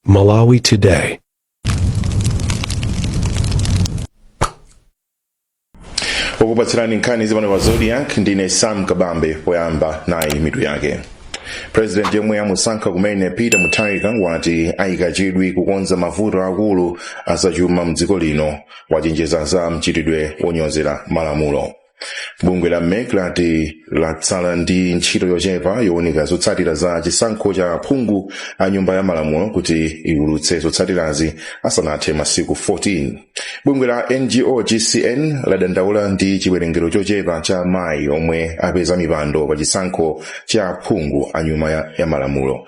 Malawi Today. okupatsirani nkhani zipano pa Zodiak ndine sam kabambe poyamba nayi mitu yake president yemwe amusankha kumene peter mutharika wati ayika chidwi kukonza mavuto akulu azachuma mdziko lino wachenjeza za mchitidwe wonyozera malamulo bungwe la mec lati latsala ndi ntchito yochepa yowunika zotsatira za chisankho cha phungu a nyumba ya malamulo kuti liwulutse zotsatirazi asanathe masiku 14 bungwe la ngo gcn ladandaula ndi chiwerengero chochepa cha mayi omwe apeza mipando pa chisankho cha phungu a nyumba ya malamulo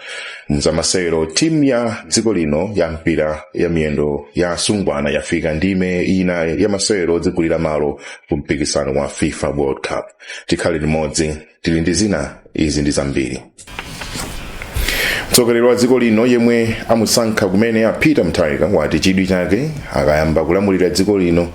mzamasewero timu ya dziko lino ya mpira ya miyendo ya asungwana yafika ndime ina ya masewero odzigulira malo ku mpikisano wa fifa world cup tikhale limodzi tili ndi zina izi ndi zambiri mtsogoleri wa dziko lino yemwe amusankha kumene a peter mutharika wati chidwi chake akayamba kulamulira dziko lino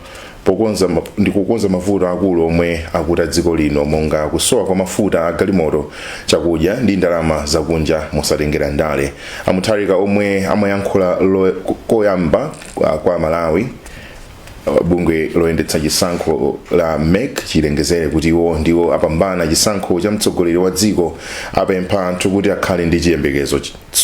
ndi kukonza mavuto akulu omwe akuta dziko lino monga kusowa kwa mafuta a galimoto chakudya ndi ndalama zakunja mosatengera ndale a mutharika omwe amayankhula koyamba kwa malawi bungwe loyendetsa chisankho la mec chilengezere kuti iwo ndiwo apambana chisankho cha mtsogoleri wa dziko apempha anthu kuti akhale ndi chiyembekezo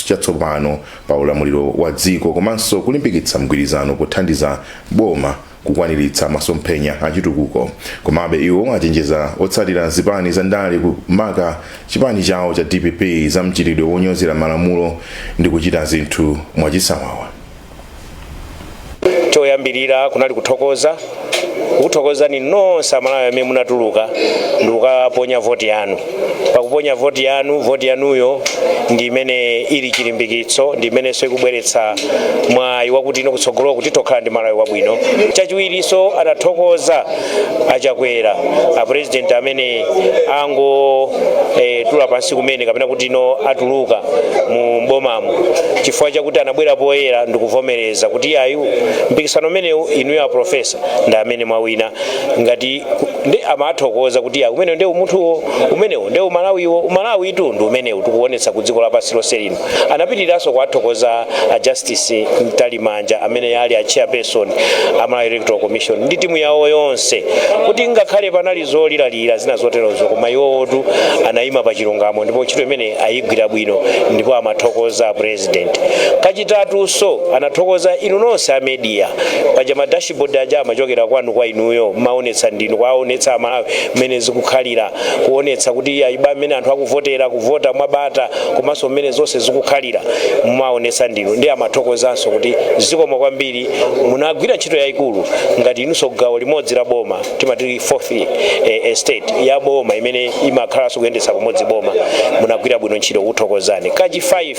chatsopano pa ulamuliro wa dziko komanso kulimbikitsa mgwirizano pothandiza boma kukwaniritsa masomphenya achitukuko komabe iwo achenjeza otsatira zipani za ndale kumaka chipani chawo cha dpp za mchitidwe wonyozera malamulo ndi kuchita zinthu mwachisawawa choyambirira kunali kuthokoza kukuthokozani nonse amalawi amene munatuluka ndikukaponya voti yanu pakuponya voti yanu voti yanuyo ndi imene ili chilimbikitso ndi imenenso ikubweretsa mwayi wakuti ino kutsogolo kuti tokhala ndi malawi wabwino chachiwirinso adathokoza a chakwera apurezidenti amene angotula pansi kumene kapena kuti ino atuluka mu mbomamo chifukwa chakuti anabwera poyera ndikuvomereza kuti iyayi mpikisano umenewu inuyo aprofesa ndi amene mwawina ngati ndi amathokoza kuti iyayi umenewu nde umunthuwo umenewu nde umalawiwo umalawitu ndi umenewu tikuonetsa ku dziko lapansi lonse lino Anapitiriranso kuwathokoza a Justice Mtalimanja amene ali a Chairperson a Malawi Electoral Commission ndi timu yawo yonse kuti ngakhale panali zolilalira zina zoterozo koma iwotu anayima pa chilungamo ndipo ntchito imene ayigwira bwino ndipo amathokoza President. Kachitatunso anathokoza inu nonse a media paja ma Board aja amachokera kwanu kwa inuyo mumaonetsa ndinu kuwaonetsa amalawi mmene zikukhalira kuonetsa kuti iya iba mmene anthu akuvotera kuvota mwabata komanso mmene zonse zikukhalira mumaonetsa ndinu ndiye amathokozanso kuti zikomo kwambiri munagwira ntchito yayikulu ngati inunso gawo limodzi la boma timati fourth eh, estate ya boma imene imakhalanso kuyendetsa pamodzi boma munagwira bwino ntchito kuthokozani kachi 5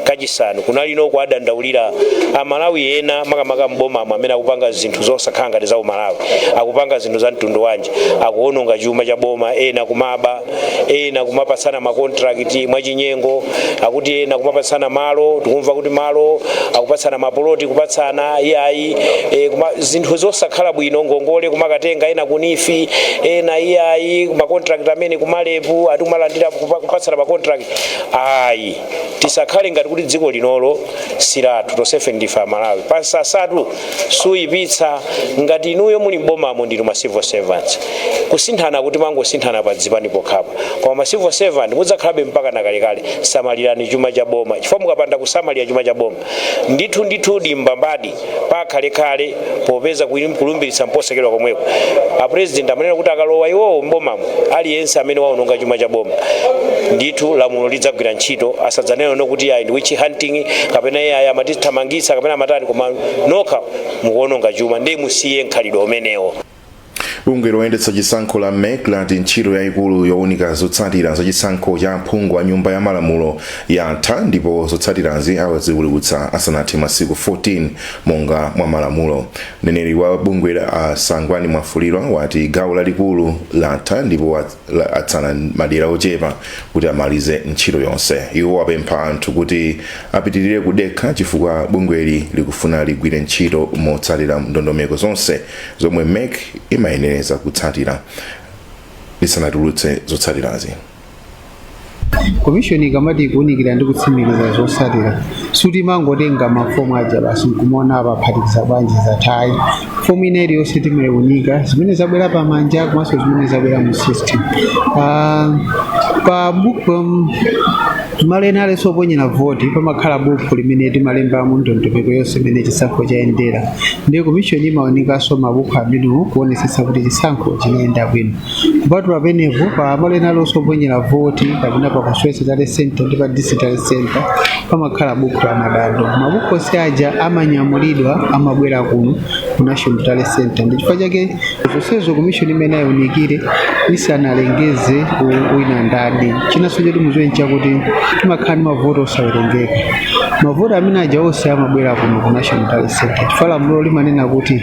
kachisanu kunali kuwadandaulira amalawi ena makamaka m'bomamo amene akupanga zinthu zosakhala ngati za umalawi akupanga zinthu za mtundu wanji akuononga chuma cha boma ena kumaba ena kumapatsana makontrakiti mwachinyengo akuti ena kumapatsana malo tikumva kuti malo akupatsana mapoloti kupatsana iyayi e, kuma, zinthu zosakhala bwino ngongole kumakatenga ena ku neef ena iyayi makontrakiti amene ku marep akuti kumalandira kupa- kupatsana makontrakiti ayi tisakhale ngati kuti dziko linolo silathu tonsefe ndife amalawi pansanza sitiyipitsa ngati inuyo muli mbomamo ndinu ma civil servants kusinthanaku timangosinthana pa zipani pokhapa koma ma civil servant mudzakhalabe mpaka nakalekale samalirani chuma cha boma chifukwa mukapanda kusamalira chuma cha boma Ndithu ndithu ndi mbambadi pa kalekale popeza kuim kulumbiritsa nkutsekedwa komweko. A president amanena kuti akalowa iwowo m'bomamo aliyense amene waononga chuma cha boma ndithu lamulo lidzagwira ntchito asadzanene kuti ayi ndi witch hunting kapena iyayi amatithamangitsa kapena amatani koma nokha mukuononga chuma ndiye musiye mkhalidwe umenewo. bungwe loyendetsa chisankho la mec lati ntchito yayikulu yowunika zotsatira za chisankho cha aphungu a nyumba ya malamulo yatha ndipo zotsatirazi aziwulutsa asanathe masiku 14 monga mwa malamulo mneneri wa bungweli a sangwani mwafulirwa wati gawo lalikulu latha ndipo wa- la- atsala madera ochepa kuti amalize ntchito yonse iwo apempha anthu kuti apitirire kudekha chifukwa bungweli likufuna ligwire ntchito motsatira ndondomeko zonse zomwe mec imayenera kutsatira lisanatulutse zotsatirazi komishoni ikamati ikuwunikira ndi kutsimikiza zotsatira sikuti imangotenga mafomu aja basi nkumaona apaphatikiza bwanji zatha ayi fomu ina iliyonse timaiwunika zimene zabwera pamanja komanso zimene zabwera mu system Ah, pa book um, malo ena alionse oponyera voti pamakhala bukhu limene timalembamo ndondomeko yonse imene chisankho chayendera ndiye komishoni imaunikanso mabukhu amenewo kuonetsetsa kuti chisankho chinayenda bwino kupatula pamenepo pa malo ena alionse oponyera voti kapena pa constituency tally center ndi pa district tally center pamakhala bukhu la madandaulo mabukhu onse aja amanyamulidwa amabwera kuno ku national tally center ndi chifukwa chake zonsezo komishoni imayenera iunikire isanalengeze u- wina ndadi chinanso choti mudziwe n'chakuti timakhala ndi mavoti osawerengeka mavoti amene aja onse amabwera kuno ku national tally center chifukwa lamulo limanena kuti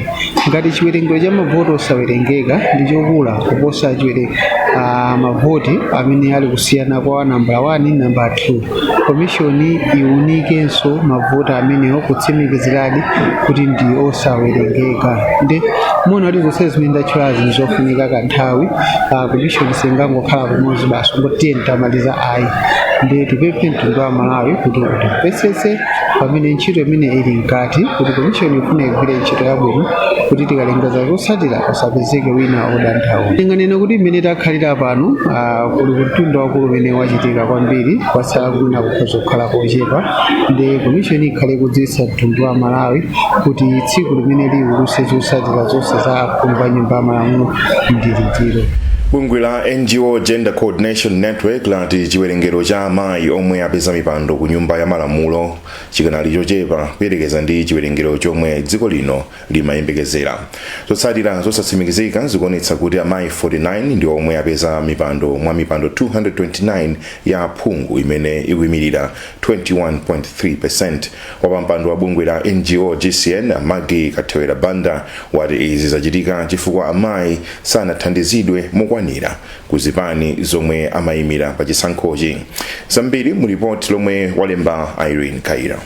ngati chiwerengero cha mavoti osawerengeka ndi chokula kuposa chiwere ah, mavoti amene ali kusiyana kwa nambala 1 nambala 2 Komishoni iwunikenso mavoti amenewo kutsimikiziradi kuti ndi osawerengeka. Nde muona kuti zonse zimene ndatchulazi ndi zofunika kanthawi. Ah, Komishoni singangokhala pamodzi basi kungoti tiyeni tamaliza ayi. Nde tipemphe mtundu wa aMalawi kuti utimvetsetse pamene ntchito imeneyi ili mkati kuti komishoni ifuna igwire ntchito yabwino kuti tikalengeza zotsatira pasapezeke wina odandaula. Tinganene kuti mmene takhalira pano ah, Ah, kuli mtunda waukulu umene wachitika kwambiri kwatsala kwina kukhoza kukhala kochepa nde komishoni ikhala ikudziwitsa mtundu wa malawi kuti tsiku limene iulutse zotsatira zonse za aphungu a nyumba ya malamulo ndi liti bungwe la ngo gender coordination network lati chiwerengero cha amayi omwe apeza mipando ku nyumba ya malamulo chikanali chochepa kuyerekeza ndi chiwerengero chomwe dziko lino limayembekezera zotsatira zosatsimikizika zikuonetsa kuti amayi 49 ndi omwe apeza mipando mwa mipando 229 ya aphungu imene ikuimirira 21.3 wapampando wa bungwe la ngo gcn a Maggie Kathewera banda wati izi zachitika chifukwa amayi sanathandizidwe mokwanira ku zipani zomwe amayimira pa chisankhochi zambiri mu lipoti lomwe walemba Irene Kayira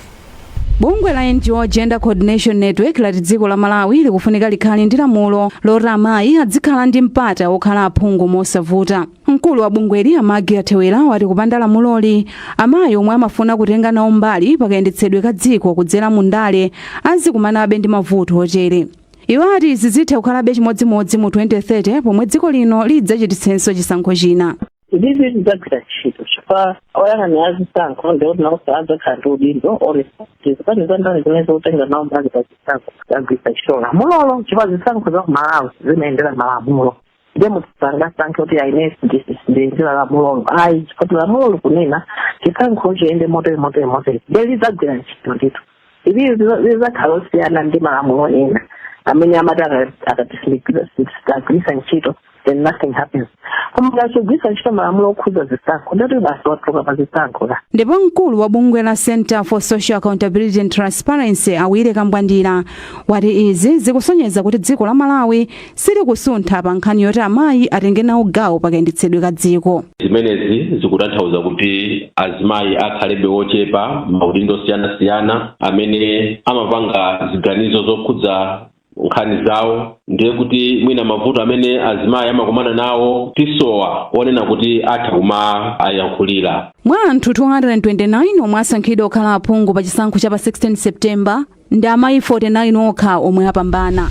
Bungwe la NGO Gender Coordination Network lati dziko la Malawi likufunika likhale ndi lamulo loti amayi azikhala ndi mpata wokhala aphungu mosavuta. Mkulu wa bungweli a Maggie Kathewera wati kupanda lamuloli, amayi omwe amafuna kutenga nawo mbali pakayendetsedwe ka dziko kudzera mu ndale azikumanabe ndi mavuto otere. Iwo ati izi zitha kukhalabe chimodzimodzi mu 2030 pomwe dziko lino lidzachititsenso chisankho china. Ili lidzagwira ntchito chifukwa oyang'anira zisankho ndi kuti nawonso adzakhala ndi udindo oonetsetsa kuti zipani za ndale zimene zikutenga nawo mbali pa zisankho zagwiritsa ntchito lamulolo chifukwa zisankho za ku malawi zimayendera malamulo nde munthu sangasankhe kuti ayi ine sindiyendera lamulolo ayi chifukwa kuti lamulo likunena chisankho chiyende motere motere motere nde lidzagwira ntchito ndithu ili lizakhala losiyana ndi malamulo ena amene amati ukapanda kugwirisa ntchito then nothing happens koma ngati sugwirisa ntchito malamulo okhudza zisankho nde kuti basi watuluka pa zisankhozo ndipo mkulu wa bungwe la center for social accountability and transparency a Willy Kambwandira wati izi zikusonyeza kuti dziko la malawi silikusuntha pa nkhani yoti amayi atenge nawo gawo pa kayendetsedwe ka dziko. Zimenezi zikutanthauza kuti azimayi akhalebe ochepa m'maudindo osiyanasiyana amene amapanga ziganizo zokhudza nkhani zawo ndiye kuti mwina mavuto amene azimayi amakumana nawo tisowa onena kuti atha kumayankhulira Mwa anthu 229 omwe asankhidwa kukhala aphungu pa chisankho cha pa 16 September, ndi amayi 49 okha omwe apambana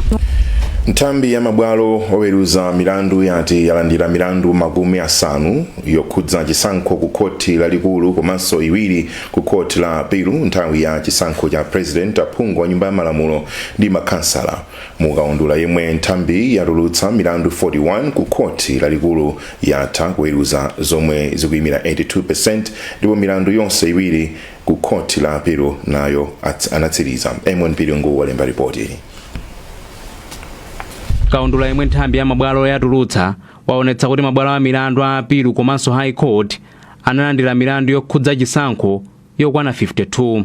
nthambi ya mabwalo oweruza milandu yati yalandira milandu makumi asanu yokhudza chisankho ku khoti lalikulu komanso iwiri ku khoti la apilu nthawi ya chisankho cha president aphungu a nyumba ya malamulo ndi makhansala mu kaundula yemwe nthambiyi yatulutsa milandu 41 ku khoti lalikulu yatha kuweruza zomwe zikuyimira 82 ndipo milandu yonse iwiri Ku khoti la apilu nayo anatsiriza. MP Lungu walemba lipoti ili. Kaundula yemwe nthambi ya mabwalo yatulutsa waonetsa kuti mabwalo a milandu a apilu komanso High Court analandira milandu yokhudza chisankho yokwana 52.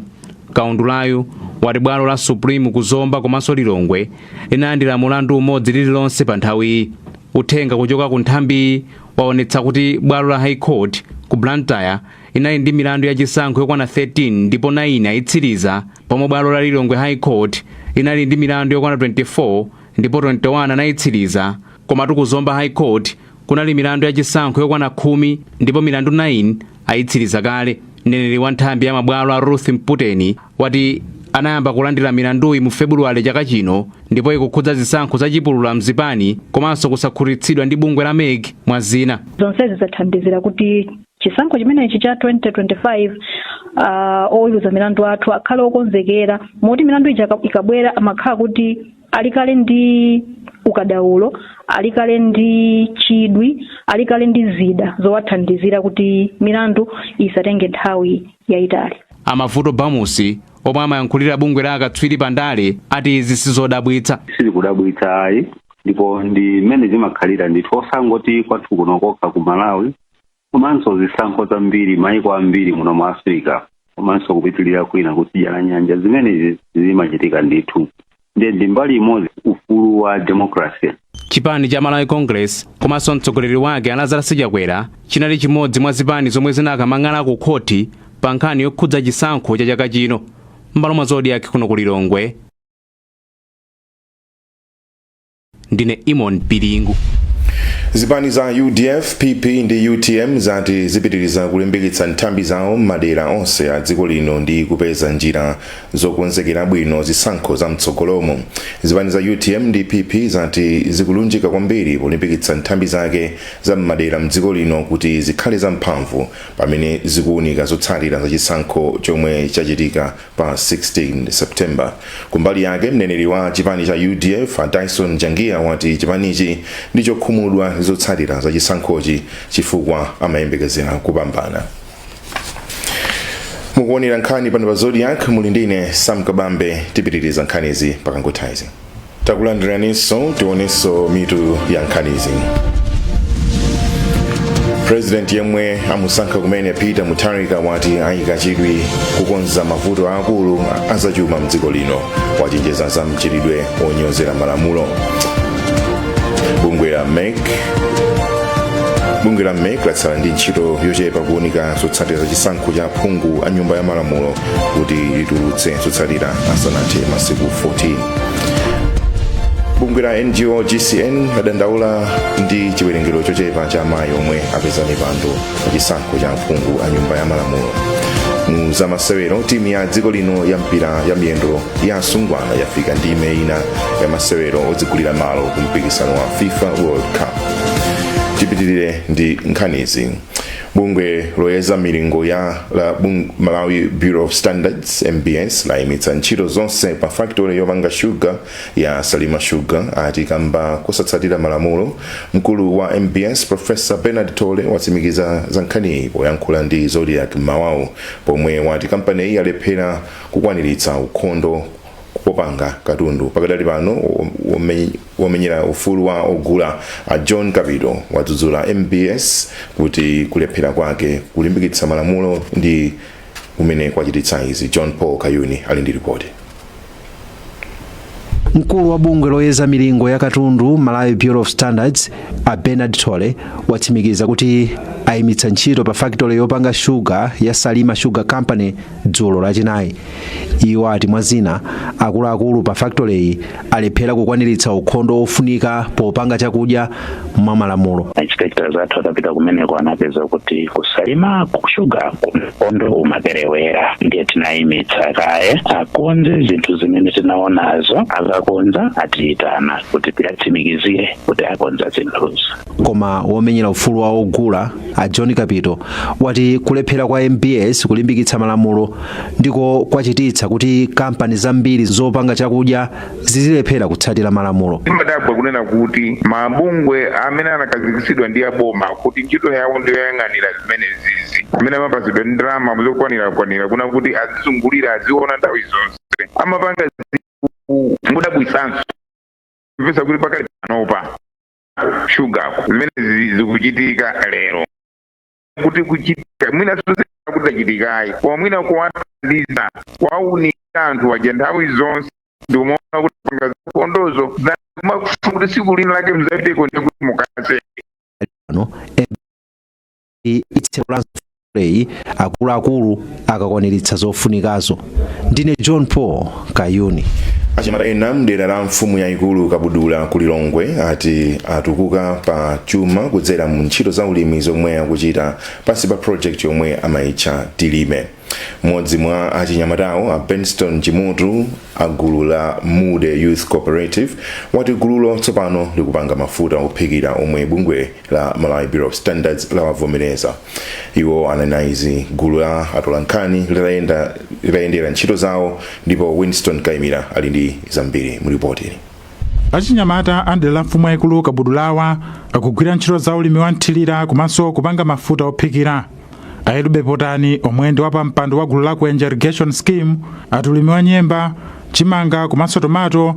Kaundulayu wati bwalo la Supreme ku Zomba komanso Lilongwe linalandira mulandu umodzi lililonse pa nthawiyi. Uthenga kuchoka ku nthambiyi waonetsa kuti bwalo la High Court ku Blantyre inali ndi milandu ya chisankho yokwana 13 ndipo 9 ayitsiriza pomwe bwalo la Lilongwe High Court inali ndi milandu yokwana 24 ndipo 21 anayitsiriza komatu ku Zomba High Court kunali milandu ya chisankho yokwana khumi ndipo milandu 9 ayitsiriza kale mneneri wa nthambi ya mabwalo a Ruth Mputeni wati anayamba kulandira milanduyi mu February chaka chino ndipo ikukhudza zisankho za chipulula mzipani komanso kusakhutitsidwa ndi bungwe la MEC mwa zina zonsezi zathandizira kuti chisankho chimenechi cha 2025 uh, oweruza milandu athu akhale okonzekera moti milandu ija ika- ikabwera amakhala kuti ali kale ndi ukadaulo ali kale ndi chidwi ali kale ndi zida zowathandizira kuti milandu isatenge nthawi yayitali a Mavuto Bamusi omwe amayankhulira bungwe la akatswiri pa ndale ati izi sizodabwitsa silikudabwitsa ayi ndipo ndi mmene zimakhalira ndithu osangoti kwathu kuno kokha ku malawi komanso zisankho zambiri maiko ambiri muno mu africa komanso kupitirira kwina kutsidya la nyanja zimenezi zimachitika ndithu ndiye ndi mbali imodzi ufulu wa democracy chipani cha malawi congress komanso mtsogoleri wake a Lazarus Chakwera chinali chimodzi mwa zipani zomwe zinakamang'ala ku khoti pa nkhani yokhudza chisankho cha chaka chino m'malo mwa zodiak kuno ku lilongwe ndine imon piringu zipani za udf pp ndi utm zati zipitiriza kulimbikitsa nthambi zawo m'madera onse a dziko lino ndi kupeza njira zokonzekera bwino zisankho za mtsogolomo zipani za utm ndi pp zati zikulunjika kwambiri polimbikitsa nthambi zake za m'madera mdziko lino kuti zikhale zamphamvu pamene zikuwunika zotsatira za chisankho chomwe chachitika pa 16 september kumbali yake mneneri wa chipani cha udf a dyson jangiya wati chipanichi ndi chokhumudwa ndi zotsatira za chisankhochi chifukwa amayembekezera kupambana mukuonera nkhani pano pa zodiak muli ndine sam kabambe tipitiriza nkhanizi pakangotaizi takulandiraninso tionenso mitu ya nkhanizi president yemwe amusankha kumene peter mutharika wati ayika chidwi kukonza mavuto aakulu azachuma mdziko lino wachenjeza za mchitidwe onyozera malamulo bungwe la mec latsala ndi ntchito yochepa kuunika zotsatira za chisankho cha aphungu a nyumba ya malamulo kuti litulutse zotsatira asanathe masiku 14 bungwe la ngo gcn ladandaula ndi chiwerengero chochepa cha amayi omwe apeza mipando pa chisankho cha aphungu a nyumba ya malamulo mu zamasewero timu ya dziko lino ya mpira ya miyendo ya asungwana yafika ndime ina ya masewero odzigulira malo ku mpikisano wa fifa world cup tipitirire ndi nkhanizi bungwe loyeza milingo ya malawi bureau of standards mbs layimitsa ntchito zonse pa factory yopanga shuga ya salima sugar ati kamba kosatsatira malamulo mkulu wa mbs profesa bernard thole watsimikiza za nkhaniyi poyankhula ndi zodiak m'mawawu pomwe wati kampaniyi yalephera kukwaniritsa ukhondo popanga katundu pakadali pano Womenyera ufulu wa ogula a John Kapito wadzudzula mbs kuti kulephera kwake kulimbikitsa malamulo ndi kumene kwachititsa izi. John Paul Kayuni ali ndi ripoti. Mkulu wa bungwe loyeza milingo ya katundu Malawi Bureau of Standards a Bernard Thole watsimikiza kuti ayimitsa ntchito pa fakitole yopanga shuga ya Salima Sugar Company dzulo lachinayi Iwo ati mwa zina, akuluakulu pa factory-yi alephera kukwaniritsa ukhondo wofunika popanga chakudya mwa malamulo. Ma inspector athu atapita kumeneko anapeza kuti ku Salima Sugar ukhondo umaperewera ndiye tinayimitsa kaye akonze zinthu zimene tinaonazo akakonza atiyitana kuti tiyatsimikizire kuti akonza zinthuzo. Koma womenyera ufulu wa ogula, a John Kapito, wati kulephera kwa mbs kulimbikitsa malamulo ndiko kwachititsa kuti kampani zambiri zopanga chakudya zizilephera kutsatira malamulo. Ndimadabwa kunena kuti mabungwe amene anakazikitsidwa ndi aboma kuti ntchito yawo ndi yoyang'anira zimenezizi amene amapatsidwa ndi ndalama zokwanira-kwanira kunena kuti azizungulira aziona nthawi zonse amapanga zinthu mudabwitsanso kupeza kuti pakali panopa shugaku zimene zi- zikuchitika lero kuti kuchitika mwina sozera kuti zachitikayi koma mwina kuwathandiza kuwaunikira anthu aja nthawi zonse ndikumaona akupanga zikondozo makuti tsiku lina lake mzapiteko ndikuti mukatseke itsekolanso play akuluakulu akakwaniritsa zofunikazo ndine john paul kayuni achinyamata ena mdera la mfumu yayikulu kabudula ku lilongwe ati atukuka pa chuma kudzera mu ntchito za ulimi zomwe akuchita pansi pa project yomwe amayitcha tilime mmodzi mwa achinyamatawo a benston chimutu a gulu la mude youth cooperative wati gululo tsopano likupanga mafuta ophikira omwe bungwe la Malawi Bureau of Standards lawavomereza. Iwo anena izi gulu la atolankhani litayendera ntchito zawo ndipo Winston Kaimira ali ndi zambiri mu ripoti ili. achinyamata a mdera la mfumu yayikulu kabudulawa akugwira ntchito za ulimi wa mthirira komanso kupanga mafuta ophikira a yelube potani omwe ndi wapampando wa gulu la kuenja irrigation scheme ati ulimi wa nyemba chimanga komanso tomato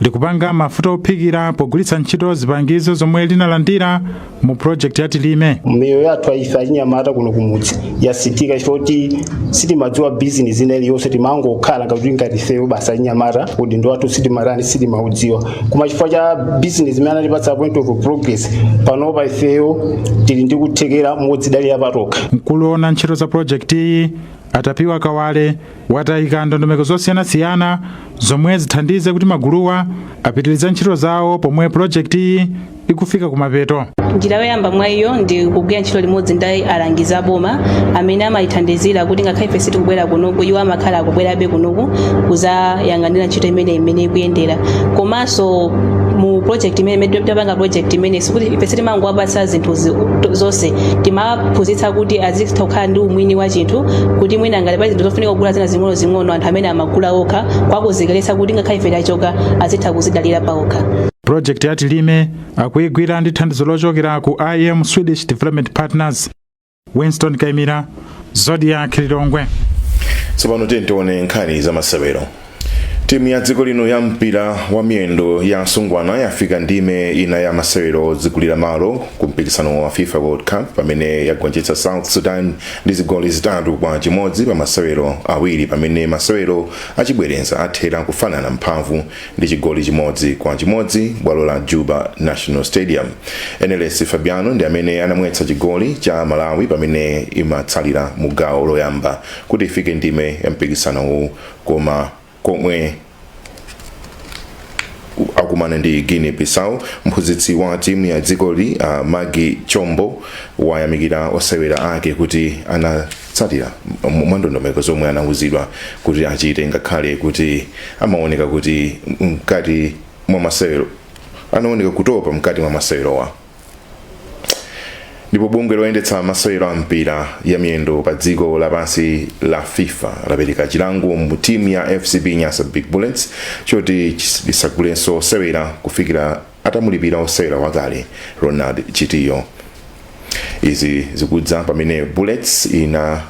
likupanga mafuta ophikira pogwiritsa ntchito zipangizo zomwe linalandira mu project ya tilime miyoyo yathu ife achinyamata kuno kumudzi yasinthika chifukwa choti sitimadziwa bizinesi ina iliyonse timangokhala ngati kuti ngati ifeyo basi achinyamata udindo wathu sitimatani sitimaudziwa koma chifukwa cha bizinesi imene anatipatsa point of progress panopa ifeyo tili ndi kuthekera modzidalira patokha mkulu woona ntchito za project iyi a tapiwa kawale wati ayika ndondomeko zosiyanasiyana zomwe zithandize kuti maguluwa apitirize ntchito zawo pomwe pulojekitiyi ikufika kumapeto njira yoyamba mwa iyo ndi kugwira ntchito limodzi ndi alangizi aboma amene amatithandizira kuti ngakhale ife sitikubwera kunoku iwo amakhala akubwerabe kunoku kuzayang'anira ntchito imene imene ikuyendera komanso mu project imene imene tikapanga project imene sikuti ife sitimangowapatsa zinthu zonse timawaphunzitsa kuti azitha kukhala ndi umwini wa chinthu kuti mwina ngati pali zinthu zofunika kugula zina zing'onozing'ono anthu amene amagula okha kuwakonzekeretsa kuti ngakhale ife tachoka azitha kuzidalira paokha pulojekiti ya tilime akuyigwira ndi thandizo lochokera ku im swedish development partners winston kaimira zodiak lilongwe tsopano tiyeni tione nkhani za masewero Timu ya dziko lino ya mpira wa miyendo ya asungwana yafika ndime ina ya masewero odzigulira malo ku mpikisano wa FIFA World Cup pamene yagonjetsa South Sudan ndi zigoli zitatu kwa chimodzi pa masewero awiri pamene masewero achibwereza athera kufanana mphamvu ndi chigoli chimodzi kwa chimodzi bwalo la Juba National Stadium. Eneles Fabiano ndi amene anamwetsa chigoli cha Malawi pamene imatsalira mu gawo loyamba kuti ifike ndime ya mpikisanowu koma komwe akumana ndi guinea bissau mphunzitsi wa timu ya dzikoli uh, magi chombo wayamikira osewera ake kuti anatsatira m- mwandondomeko zomwe anauzidwa kuti achite ngakhale kuti amaoneka kuti mkati mwa masewero anaoneka kutopa mkati mwa masewerowa ndipo bungwe loyendetsa masewero a mpira ya miyendo pa dziko lapansi la fifa lapereka chilango mu timu ya fcb nyasa big bullets choti isagulenso osewera kufikira atamulipira osewera wakale ronald chitiyo izi zikudza pamene bullets ina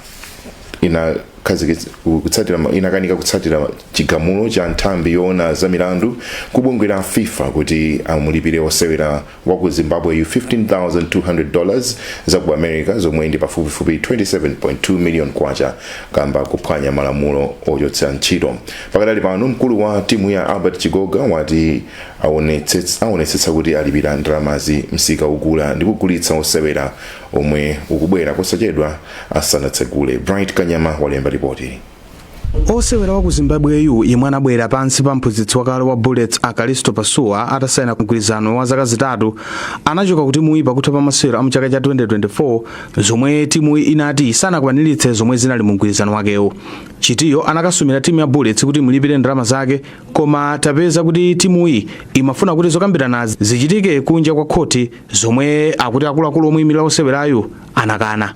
inakhazikitsa- ku- kutsatira ma- inakanika kutsatira chigamulo cha nthambi yoona za milandu kubungwe la fifa kuti amulipire osewera wa ku zimbabweyu 15200 dollars za ku america zomwe ndi pafupifupi 27.2 million kwacha kamba kuphwanya malamulo ochotsera ntchito pakadali pano mkulu wa timuyi a albert chigoga wati aonetsetsa aonetsetsa kuti alipira ndalamazi msika ogula ndi kugulitsa osewera omwe ukubwera posachedwa asanatsegule. Bright Kanyama walemba lipoti. osewera wa ku zimbabweyu yemwe anabwera pansi pa mphunzitsi wakale wa bullets a kalisto pasuwa atasayina mgwirizano wa zaka zitatu anachoka ku timuyi pakutha pa masewero a mchaka cha 2024 zomwe timuyi inati sanakwaniritse zomwe zinali mu mgwirizano wakewo chitiyo anakasumira timu ya bullets kuti imulipire ndalama zake koma tapeza kuti timuyi imafuna kuti zokambiranazi zichitike kunja kwa khoti zomwe akuti akuluakulu omuyimirira osewerayu anakana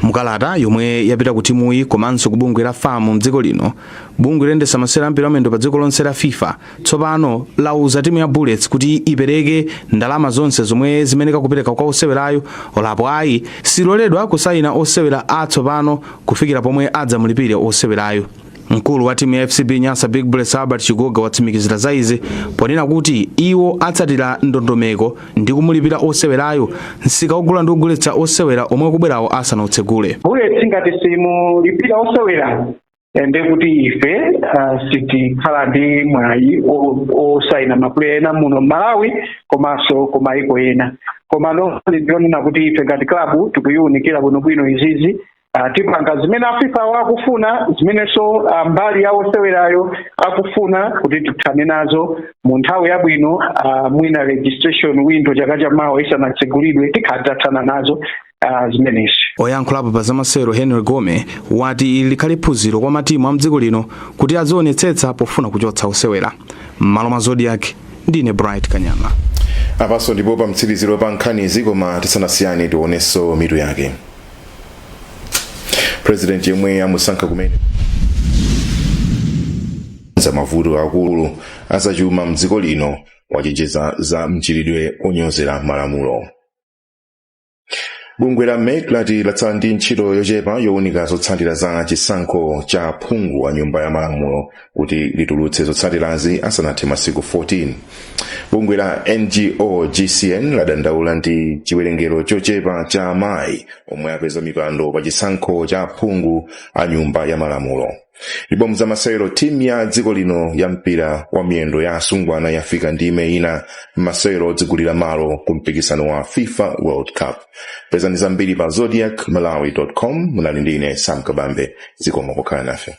mukalata yomwe yapita ku timuyi komanso ku bungwe la fam mdziko lino bungwe loyendetsa masewera ampira wamiyendo pa dziko lonse la fifa tsopano lauza timu ya bullets kuti ipereke ndalama zonse zomwe imayenera kupereka kwa osewerayo olo apo ayi siloledwa kusayina osewera atsopano kufikira pomwe adzamulipire osewerayu Mkulu wa timu ya FCB Nyasa Big Bullets Albert Chigoga watsimikizira za izi ponena kuti iwo atsatira ndondomeko ndi kumulipira osewerayo msika ogula ndi kugulitsa osewera omwe ukubwerawo asanatsegule. Bullets ngati simulipira osewera eh, ndiye kuti ife ah, sitikhala ndi mwayi o- osaina mapuleya ena muno mMalawi komanso kumaiko ena koma nonse ndionena kuti ife ngati klabu tikuyiunikira bwinobwino izizi Ah, tipanga zimene a fifa wo akufuna zimenenso ah, mbali ya osewerayo akufuna kuti tithane nazo mu nthawi yabwino ah, mwina registration window chaka cha mawa isanatsegulidwe tikhale titathana nazo ah, zimenezi oyankhulapo pa zamasewero henry gome wati ili likhale phunziro kwa matimu a mdziko lino kuti azionetsetsa pofuna kuchotsa osewera m'malo mwa zodiac ndine bright kanyama apaso ndipo pamtsiriziro pa nkhanizi koma tisanasiyane tionenso mitu yake president yemwe amusankha kumene za mavuto akulu azachuma mdziko lino wachenjeza za mchitidwe onyozera malamulo bungwe la mec lati latsala ndi ntchito yochepa yowunika zotsatira za chisankho cha phungu wa nyumba ya malamulo kuti litulutse zotsatirazi asanathe masiku 14 bungwe la ngo gcn ladandaula ndi chiwerengero chochepa cha amayi omwe apeza mipando pa chisankho cha aphungu a nyumba ya malamulo ndipo mzamasewero timu ya dziko lino ya mpira wa miyendo ya asungwana yafika ndime ina m'masewero odzigulira malo ku mpikisano wa fifa world cup pezani zambiri pa zodiac malawi com munali ndi ine sam kabambe zikomo pokhala nafe